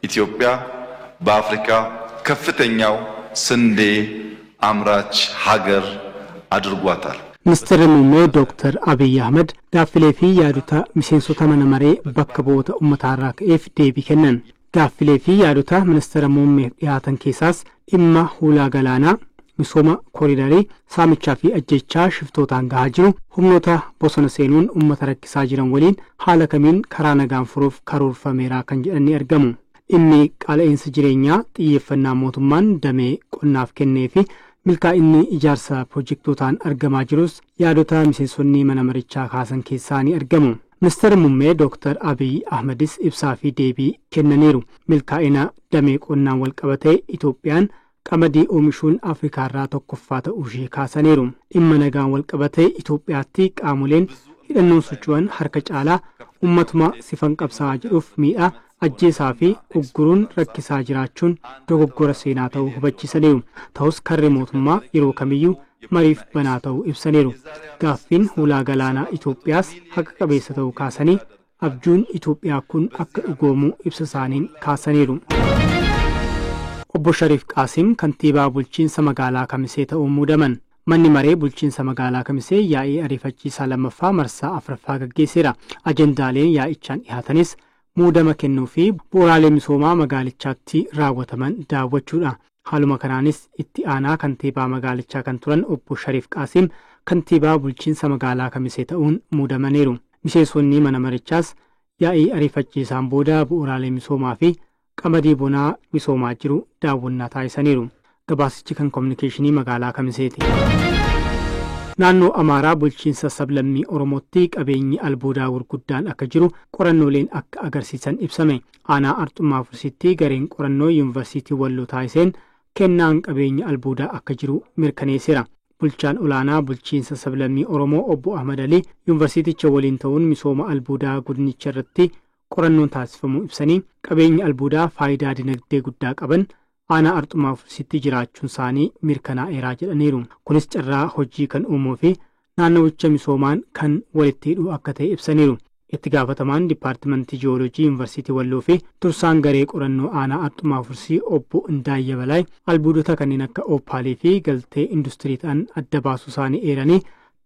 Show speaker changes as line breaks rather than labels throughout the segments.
Itoophiyaa b'Afrikaa kaffitanyaaw sindee amraach hagar adurgwaataal. Ministirri
Muummee Dooktar Abiy Ahimad gaaffilee fi yaadota miseensota mana maree bakka bu'oota ummataarraa ka'eef deebii kennan. Gaaffilee fi yaadota Ministira Muummeef dhihaatan keessaas dhimma hulaa galaanaa, misooma koriidarii, saamichaa fi ajjeechaa shiftootaan gahaa jiru, humnoota bosona seenuun ummata rakkisaa jiran waliin haala kamiin karaa nagaan furuuf karoorfameera kan jedhan ni argamu. Dhimmi qaala'iinsa jireenyaa xiyyeeffannaa mootummaan damee qonnaaf kennee fi milkaa'inni ijaarsa pirojektootaan argamaa jirus yaadota miseensonni mana marichaa kaasan keessaa ni argamu. Ministeerri Mummee Dooktar Abiy Ahmadis ibsaa fi deebii kennaniiru. Milkaa'ina Damee qonnaan walqabatee Itoophiyaan qamadii oomishuun Afrikaarraa tokkoffaa ta'uushee kaasaniiru. Dhimma nagaan walqabatee Itoophiyaatti qaamoleen hidhannoon socho'an harka caalaa ummatuma sifan qabsaa'aa jedhuuf miidhaa, ajjeesaa fi ugguruun rakkisaa jiraachuun dogoggora seenaa ta'uu hubachiisaniiru. Ta'us karri mootummaa yeroo kamiyyuu mariif banaa ta'uu ibsaniiru. Gaaffiin hulaa galaanaa Itoophiyaas haqa qabeessa ta'uu kaasanii, Abjuun Itoophiyaa kun akka dhugoomu ibsa isaaniin kaasaniiru. Obbo Shariif Qaasim Kantiibaa Bulchiinsa Magaalaa Kamisee ta'uun muudaman. Manni Maree Bulchiinsa Magaalaa Kamisee yaa'ii ariifachiisaa 2ffaa marsaa 4ffaa gaggeesseera. Ajandaaleen yaa'ichaan dhihaatanis muudama kennuu fi bu'uraalee misoomaa magaalichaatti raawwataman daawwachuudha. Haaluma kanaanis itti aanaa kantiibaa magaalichaa kan turan obbo Shariif Qaasiim kantiibaa bulchiinsa magaalaa Kamisee ta'uun muudamaniiru. Miseensonni mana marichaas yaa'ii ariifachiisaan booda bu'uuraalee misoomaa fi qamadii bonaa misoomaa jiru daawwannaa taasisaniiru. Gabaasichi kan kominikeeshinii magaalaa Kamiseeti. Naannoo Amaaraa bulchiinsa sablammii Oromootti qabeenyi albuudaa gurguddaan akka jiru qorannooleen akka agarsiisan ibsame. Aanaa Arxummaa Fursiitti gareen qorannoo Yuunvarsiitii Walloo taasiseen kennaan qabeenya albuudaa akka jiru mirkaneesseera. Bulchaan olaanaa bulchiinsa sablammii Oromoo obbo Ahmad Alii Yuunvarsiiticha waliin ta'uun misooma albuudaa godinicha irratti qorannoon taasifamuu ibsanii, qabeenyi albuudaa faayidaa dinagdee guddaa qaban Aanaa Arxumaa Fursitti jiraachuunsaanii mirkanaa'eera jedhaniiru. Kunis carraa hojii kan uumuufi naannawicha misoomaan kan walitti hidhu akka ta'e ibsaniiru. Itti gaafatamaan Dippaartimantii Ji'ooloojii Yuunvarsiitii Walloofi dursaan garee qorannoo aanaa Arxumaa Fursii obbo Indaayya Balaay albuudota kanneen akka Oopaaliifi galtee industirii ta'an adda baasuusaanii eeranii,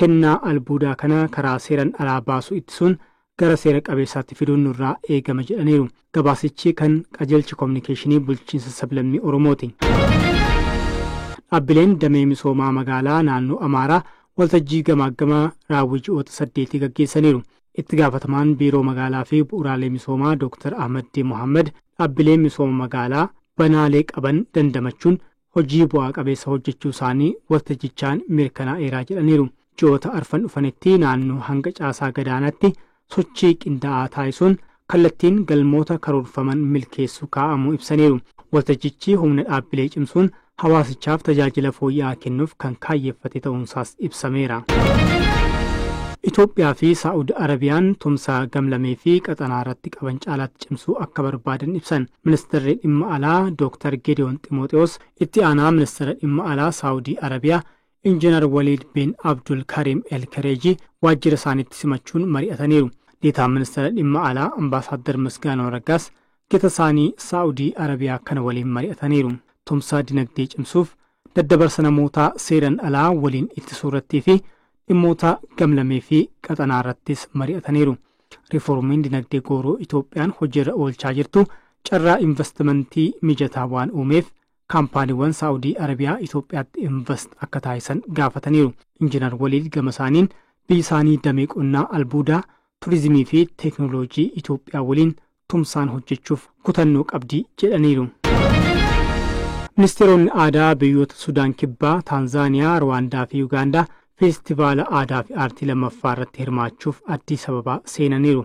kennaa albuudaa kana karaa seeran alaa baasuu ittisuun gara seera qabeessaatti fiduun nurraa eegama jedhaniiru. Gabaasichi kan qajeelcha kominikeeshinii bulchiinsa sablammii Oromooti. Dhaabbileen damee misoomaa magaalaa naannoo Amaaraa waltajjii gamaaggama raawwii ji'oota saddeetii gaggeessaniiru. Itti gaafatamaan biiroo magaalaa fi bu'uraalee misoomaa Dooktar Ahmaddii Mohaammed dhaabbileen misooma magaalaa banaalee qaban dandamachuun hojii bu'aa qabeessa hojjechuu isaanii waltajjichaan mirkanaa'eeraa jedhaniiru. Ji'oota arfan dhufanitti naannoo hanga caasaa gadaanaatti sochii qindaa'aa taasisuun kallattiin galmoota karoorfaman milkeessuu kaa'amuu ibsaniiru. Waltajjichi humna dhaabbilee cimsuun hawaasichaaf tajaajila fooyya'aa kennuuf kan kaayyeffate ta'uunsaas ibsameera. Itoophiyaa fi Saa'ud Arabiyaan tumsa gamlamee fi qaxanaa irratti qaban caalaatti cimsuu akka barbaadan ibsan Ministeerri Dhimma Alaa Dooktar Geediyoon Ximooxiwoos itti aanaa Ministeera Dhimma Alaa Saa'udii Arabiyaa Injinar Waliid Bin Abdul Kariim El Kereejii waajjira isaaniitti simachuun mari'ataniiru. Deetaan Ministeera Dhimma Alaa Ambaasaaddar Misgaanaw Raggaas gita isaanii Saa'udii Arabiyaa kana waliin mari'ataniiru. Tumsa dinagdee cimsuuf, daddabarsa namootaa seeran alaa waliin ittisuurrattii fi dhimmoota gamlamee fi qaxanaarrattis mari'ataniiru. Riifoormiin dinagdee gooroo Itoophiyaan hojiirra oolchaa jirtu carraa invastimantii mijataa waan uumeef Kaampaaniiwwan Saa'udii Arabiyaa Itoophiyaatti invast akka taasisan gaafataniiru. Injinar Waliid gamasaaniin, biyyisaanii damee qonnaa, albuudaa, turizimii fi teeknooloojii Itoophiyaa waliin tumsaan hojjechuuf kutannoo qabdi jedhaniiru. Ministeeronni Aadaa biyyoota Sudaan Kibbaa, Taanzaaniyaa, Ruwaandaa fi Yugaandaa Feestivaala Aadaafi Aartii 2ffaa irratti hirmaachuuf Addis Ababaa seenaniiru.